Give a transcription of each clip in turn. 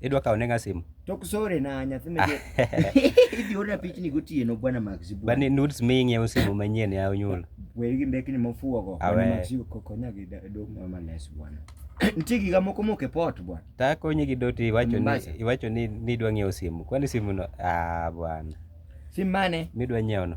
Idwa kawo nenga simu? Tok sore na nyathi me idhi orna pichni gotieno bwana Max. Bani nudes mi ing'iewo simu manyien ya onyuol. Wer gi mbekni mofuogo bwana Max kokonya gi dong mama les bwana. Nitie giga moko moko e pot bwana. Ta konyi gi doti iwacho ni iwacho ni nidwa ng'iewo simu. Kwani simu no ah bwana. Sim mane? Midwa nyiewo no.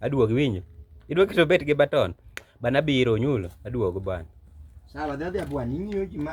Aduogo iwinjo. Idwa keto bet gi baton. Bana biro nyulo. Aduogo bana. Sawa, dhi adhi abwan, ing'iyo ji ma